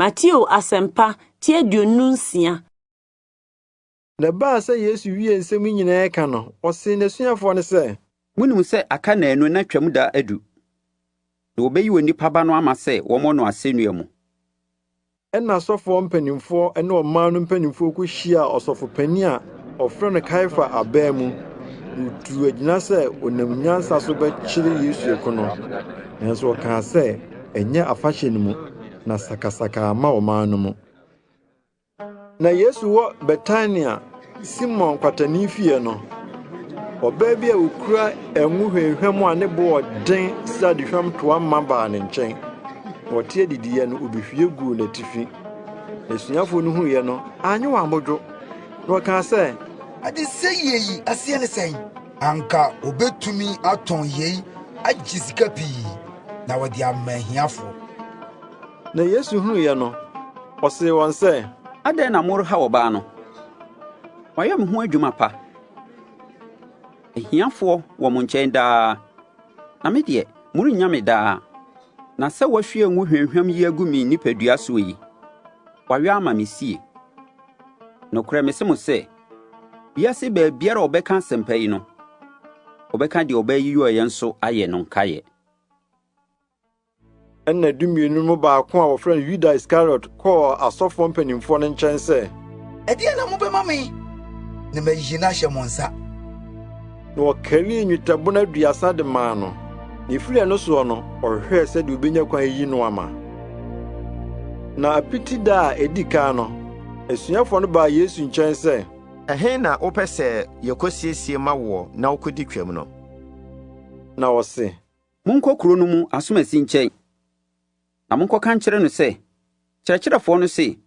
Mateo Asɛmpa ti aduonu nsia. Na ɛbaa sɛ Yesu wiee nsɛm yi nyinaa reka no, ɔsee n'asuafoɔ no sɛ. Monim sɛ aka nnanu na Twam da adu, na wɔbɛyi onipa Ba no ama sɛ wɔmmɔ no asɛnnua mu. Ɛnna asɔfoɔ mpanimfoɔ ne ɔman no mpanimfoɔ kɔhyiaa ɔsɔfo panin a wɔfrɛ no Kaiafa abaa mu, na wɔtuu agyina sɛ wɔnam nyansa so bɛkyere Yesu aku no. Nanso wɔkaa sɛ. ɛnyɛ afahyɛ no mu na sakasaka ama ɔman no mu. Na Yesu wɔ Betania, Simon kwatani fie no, ɔbaa bi a okura ngo hwamhwam a ne bo ɔden sɛ adehwam toa ma baa ne nkyɛn. Ɔte adidiyɛ no, obehwie guu n'atifi. N'asuafo no huiɛ no, anyɛ wɔn abodwo, na ɔkaa sɛ, Adesɛeɛ yi aseɛ ne sɛn? Anka wobetumi atɔn yei agye sika pii na wɔde ama ahiafo. Na Yesu hunuiɛ no, ɔsee wɔn sɛ. Adɛn na morehaw ɔbaa no? Wayɛ me ho adwuma pa. Ahiafoɔ wɔ mo nkyɛn daa, na me deɛ, morennya me daa. Na sɛ wahwie ngo hwamhwam yi agu me nipadua soɔ yi, wayɔ ama me sie. Nokorɛ mese mo sɛ. Wiase baabiara a ɔbɛka asɛmpa yi no, ɔbɛka deɛ ɔbɛyɛ yɔ yɛn nso ayɛ no nkaeɛ. Ɛnna dumienu no mu baako a wɔfrɛ no Yuda Iskariot kɔɔ asɔfoɔ mpanimfoɔ no nkyɛn sɛ, Ɛdeɛn na mobɛma me na mayi no ahyɛ mo nsa? na wɔkarii nnwetɛbona aduasa de maa no, na efiri ɛno soɔ no ɔhwehwɛɛ sɛdeɛ obenya kwan ayi no ama. Na apiti da a edi kan no, asuafoɔ no baa Yesu nkyɛn sɛ, Ɛhe na wopɛ sɛ yɛkɔsiesie ma woɔ na wokɔdi Twam no? Na ɔse. Monkɔ kuro no mu asomasi nkyɛn, na monkɔka nkyerɛ no sɛ, 'Kyerɛkyerɛfoɔ no se,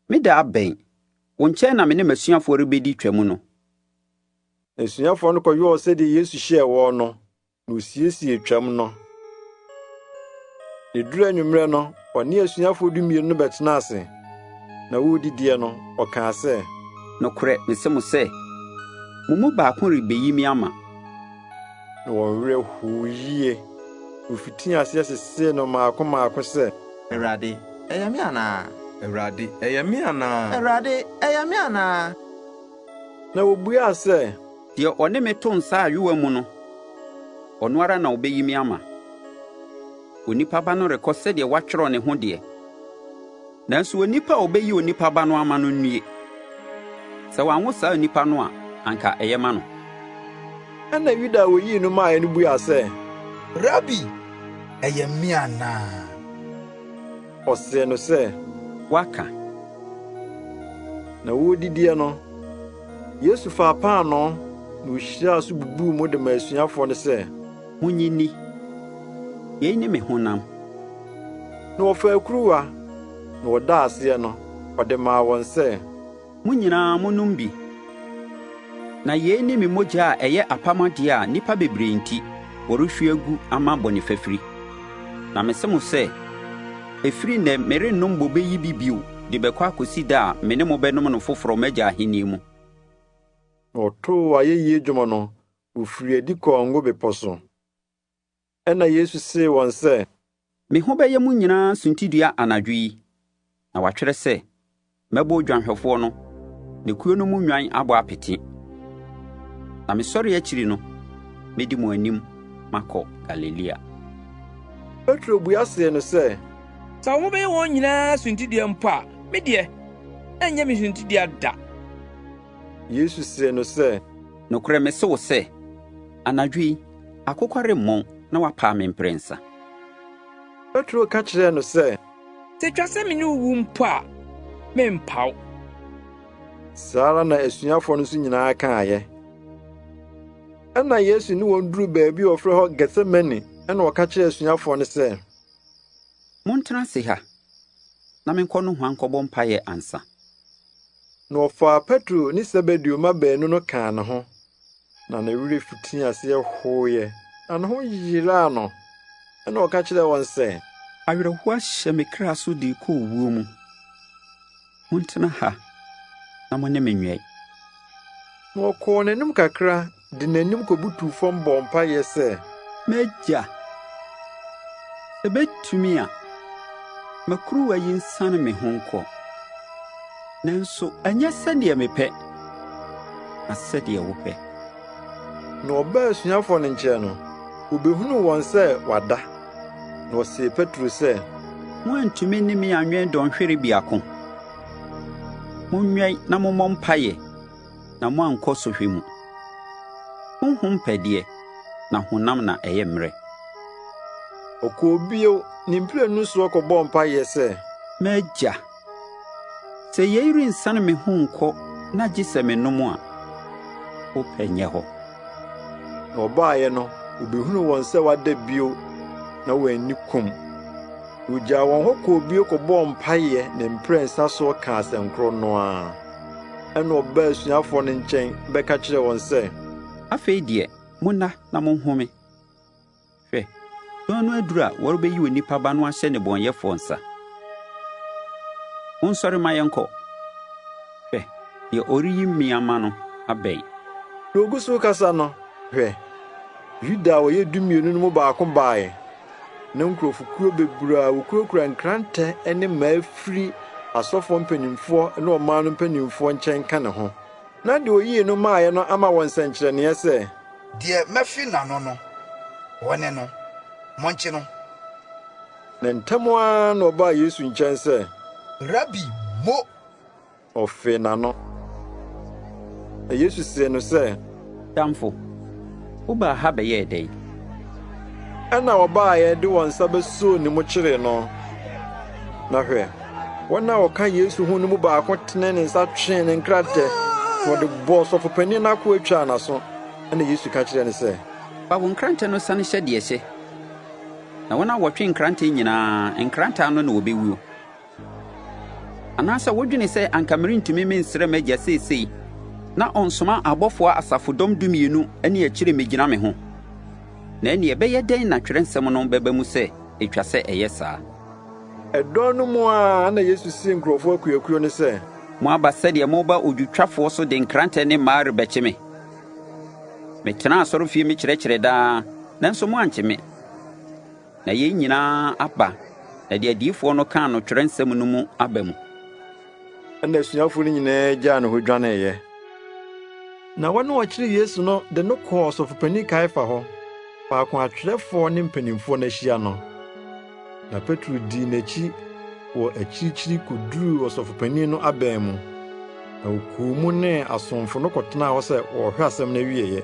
Me da abɛn, wo nkyɛn na me ne m'asuafoɔ rebɛdi Twam no. Asuafoɔ no kɔyɔɔ sɛdeɛ Yesu hyɛɛ wɔn no, na wɔsiesiee twam no. Na ɛduru anwummerɛ no, ɔne asuafoɔ dumienu no bɛtenaa ase, na wɔredidiɛ no, ɔkaa sɛ, Nokorɛ mese mo sɛ, mo mu baako rebɛyi me ama. Na wɔn werɛ hoo yie, na wɔfitii aseɛ sesee no mmaako mmaako sɛ. Awurade, ɛyɛ me anaa? Awurade, ɛyɛ me anaa? Awurade, ɛyɛ me anaa? Na wobuaa sɛ, “Deɛ ɔne me to nsa ayowaa mu no, ɔno ara na ɔbɛyi me ama. Onipa Ba no rekɔ sɛdeɛ wɔatwerɛ ne ho deɛ, nanso onipa a ɔbɛyi Onipa Ba no ama no nnue! Sɛ wanwo saa onipa no a, anka ɛyɛ ma no.” Ɛnna Yuda a ɔyii no maeɛ no buaa sɛ, “Rabi, ɛyɛ me anaa?” Ɔsee no sɛ, Woaka. Na wɔredidiɛ no, Yesu faa paanoo, na ɔhyiraa so bubuu mu de maa asuafoɔ no sɛ. Monye nni. Yei ne me honam. Na ɔfaa kuruwa, na ɔdaa aseɛ no, ɔde maa wɔn sɛ. Mo nyinaa, monnom bi, na yei ne me mogya a ɛyɛ apam adeɛ a nnipa bebree enti, wɔrehwie agu ama bɔne fafiri. Na mese mo sɛ, ɛfiri ɛnnɛ merennom bobe yi bi bio de bɛkɔ akɔsi da a me ne mo bɛnom no foforɔ m'Agya Ahennie mu.” Na ɔtoo ayɛyie dwom no, ɔfirii adi kɔɔ Ngo Bepɔ so. Ɛnna Yesu see wɔn sɛ. Me ho bɛyɛ mo nyinaa suntidua anadwo yi, na wɔatwerɛ sɛ, 'Mɛbɔ odwanhwɛfoɔ no, na kuo no mu nnwan abɔ apete. Na mesɔre akyiri no, mɛdi mo anim makɔ Galilea. Petro bua see no sɛ. Sɛ wobɛyɛ wɔn nyinaa suntidua mpo a, me deɛ, ɛnyɛ me suntidua da. Yesu see no sɛ. Nokorɛ mese wo sɛ, anadwo yi, Akokwa remmɔn na wapaa me mprɛnsa. Petro ka kyerɛɛ no sɛ. Sɛ etwa sɛ me ne wo wu mpo a, merempa wo. Saa ara na asuafoɔ no nso nyinaa kaeɛ. Ɛnna Yesu ne wɔn duruu baabi a wɔfrɛ hɔ Getsemane, ɛnna ɔka kyerɛɛ asuafoɔ no sɛ. Montena ase ha, na menkɔ nohoa nkɔbɔ mpaeɛ ansa. Na ɔfaa Petro ne Sebedeo mma baanu no kaa ne ho. Na ne werɛ fitii aseɛ hoeɛ, na ne ho yeraa no. Ɛnna ɔka kyerɛɛ wɔn sɛ. Awerɛhoɔ ahyɛ me kra so de rekɔ owuo mu. Montena ha na mo ne me nwɛn. Na ɔkɔɔ n'anim kakra de n'anim kɔbutuu fam bɔɔ mpaeɛ sɛ. M'agya, sɛ bɛtumi a, ma kuruwa yi nsane me ho nkɔ. Nanso ɛnyɛ sɛdeɛ mepɛ, na sɛdeɛ wopɛ. Na ɔbaa asuafoɔ no nkyɛn no, ɔbɛhunuu wɔn sɛ wɔada, na ɔsee Petro sɛ. Moantumi ne me anwɛn dɔnhwere biako? Monwɛn na mommɔ mpaeɛ na moankɔ sɔhwɛ mu. Honhom pɛ deɛ, na honam na ɛyɛ mmerɛ. Ɔkɔɔ bio ne mprenu soɔ kɔbɔɔ mpaeɛ sɛ. M'Agya, Sɛ yei rensiane me ho nkɔ na gye sɛ menom a, wo pɛ nyɛ hɔ. Na wɔbaeɛ no, wɔbɛhunuu wɔn sɛ wɔada bio, na wɔn ani kum. Na wɔgyaa wɔn hɔ kɔɔ bio kɔbɔɔ mpaeɛ ne mprɛnsa so kaa asɛnkorɔ no ara. Ɛnna ɔbaa asuafoɔ no nkyɛn bɛka kyerɛɛ wɔn sɛ, Afei deɛ, monna na monhome. Hwɛ, dɔn no aduru a wɔrebeyi onipa Ba no ahyɛ nnebɔneyɛfoɔ nsa. Monsɔre mma yɛnkɔ! Hwɛ, deɛ ɔreyi me ama no abɛn. Na ɔgu so rekasa no, hwɛ, Yuda a ɔyɛ Dumienu no mu baako baeɛ, na nkurɔfokuo bebree a wɔkurakura nkrantɛ ne mmaa firi asɔfoɔ mpanimfoɔ ne ɔman no mpanimfoɔ nkyɛn ka ne ho. Na deɛ ɔyii no maeɛ no ama wɔn nsɛnkyerɛnneɛ sɛ, Deɛ mafi n'ano no, wɔne no. Monkye no. Na ntɛm ara na ɔbaa Yesu nkyɛn sɛ. Rabi, mo! Ɔfee n'ano. Na Yesu see no sɛ. Damfo, wobaa ha bɛyɛɛ dɛn? Ɛnna wɔbaeɛ de wɔn nsa bɛsoo ne mu kyeree no, na hwɛ! Wɔn a wɔka Yesu ho no mu baako tenee ne nsa twee ne nkrantɛ, na ɔde bɔɔ ɔsɔfo panyin no akoa twaa n'aso. Ɛnna Yesu ka kyerɛɛ no sɛ. Fa wo nkrantɛ no san hyɛ deɛ ɛhyɛ. Na wɔn a wɔtwe nkrantɛ nyinaa, nkrantɛ ano na wɔbɛwuo. Anaasɛ wodwene sɛ anka merentumi mensrɛ m'Agya seesei na ɔnsoma abɔfoɔ asafodɔm dumienu ne akyire mmɛgyina me ho? Na ɛnneɛ ɛbɛyɛ dɛn na twerɛnsɛm no bɛba mu sɛ ɛtwa sɛ ɛyɛ saa? Dɔn no mu ara na Yesu sii nkurɔfo akuakuo no sɛ. Moaba sɛdeɛ moreba odwotwafoɔ so de nkrantɛ ne mmaa rebɛkye me. Metenaa asɔrefie mekyerɛkyerɛɛ daa, nanso moankye me. Na yei nyinaa aba, na deɛ adiyifoɔ no kaa no Twerɛnsɛm no mu aba mu. Ɛnna asuafo no nyinaa gyaa no hɔ dwaneeɛ. Na wɔn a wɔkyeree Yesu no de no kɔɔ ɔsɔfopanin Kaiafa hɔ, faako a atwerɛfoɔ ne mpanimfoɔ no ahyia no. Na Petro dii n'akyi wɔ akyirikyiri kɔduruu ɔsɔfopanin no abɛn mu, na ɔkɔɔ mu ne asomfo no kɔtenaa hɔ sɛ wɔrehwɛ asɛm no awieeɛ.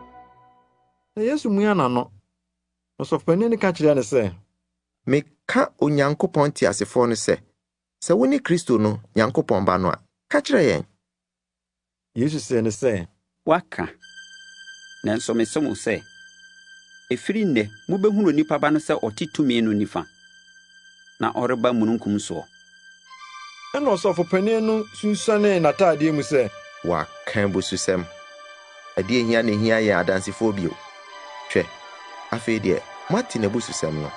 Na Yesu mia n'ano, na ɔsɔfopanyin no ka kyerɛɛ no sɛ. Meka Onyankopɔn teasefoɔ no sɛ, sɛ wone Kristo no, Nyankopɔn Ba no a, ka kyerɛ yɛn. Yesu see no sɛ. Woaka. Nanso mese mo sɛ, ɛfiri nnɛ mobɛhunu onipa Ba no sɛ ɔte tumi no nifa, na ɔreba mununkum soɔ. Ɛnna ɔsɔfopanin no sunsuanee n'ataadeɛ mu sɛ. Wɔaka abususɛm! Ɛdeɛn hia na ɛhia yɛn adansefoɔ bio? Hwɛ! Afei deɛ moate n'abususɛm no.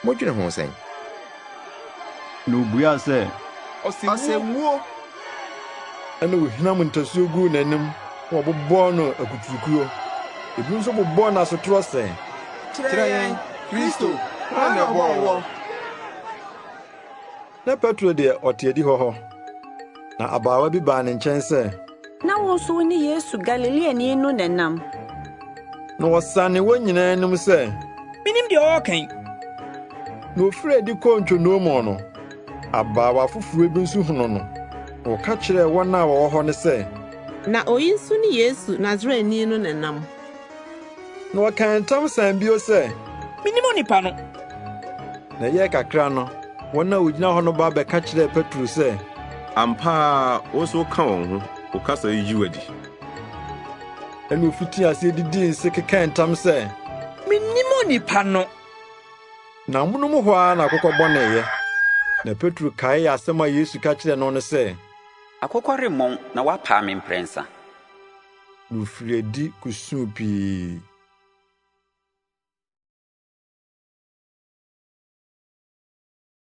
Modwene ho sɛn? Na ɔbuaa sɛ. Ɔsɛmwuo! Ɛnna wɔhinam ntasuo guu n'anim na wɔbobɔɔ no akuturukuo. Ebinom nso bobɔɔ no asotorɔ sɛ. Kyerɛ yɛn, Kristo, hwan na ɔbɔɔ woɔ? Na Petro deɛ, ɔte adihɔ hɔ, na abaawa bi baa ne nkyɛn sɛ. Na wo nso wone Yesu Galileani no na ɛnam. Na ɔsanee wɔn nyinaa anim sɛ. Mennim deɛ ɔreka yi! Na ɔfirii adi kɔɔ ntwonoo mu no, abaawa afoforɔ bi nso hunuu no, na wɔka kyerɛɛ wɔn a wɔwɔ hɔ no sɛ. Na ɔyi nso ne Yesu Nasaretni no na ɛnam. Na ɔkaa ntam san bio sɛ, “Minnim onipa no!” Na ɛyɛɛ kakra no, wɔn a wogyina hɔ no ba bɛka kyerɛɛ Petro sɛ, “Ampa ara wo nso woka wɔn ho, wo kasa yi gye wo adi.” Ɛnna ofitii aseɛ didii nse kekaa ntam sɛ, “Minnim onipa no!” Na amonom hɔ ara na akokɔ bɔneeɛ. Na Petro kaee asɛm a Yesu ka kyerɛɛ no no sɛ, “Akokɔ remmɔn na woapaa me mprɛnsa.” Wofiri adi kosuu pii.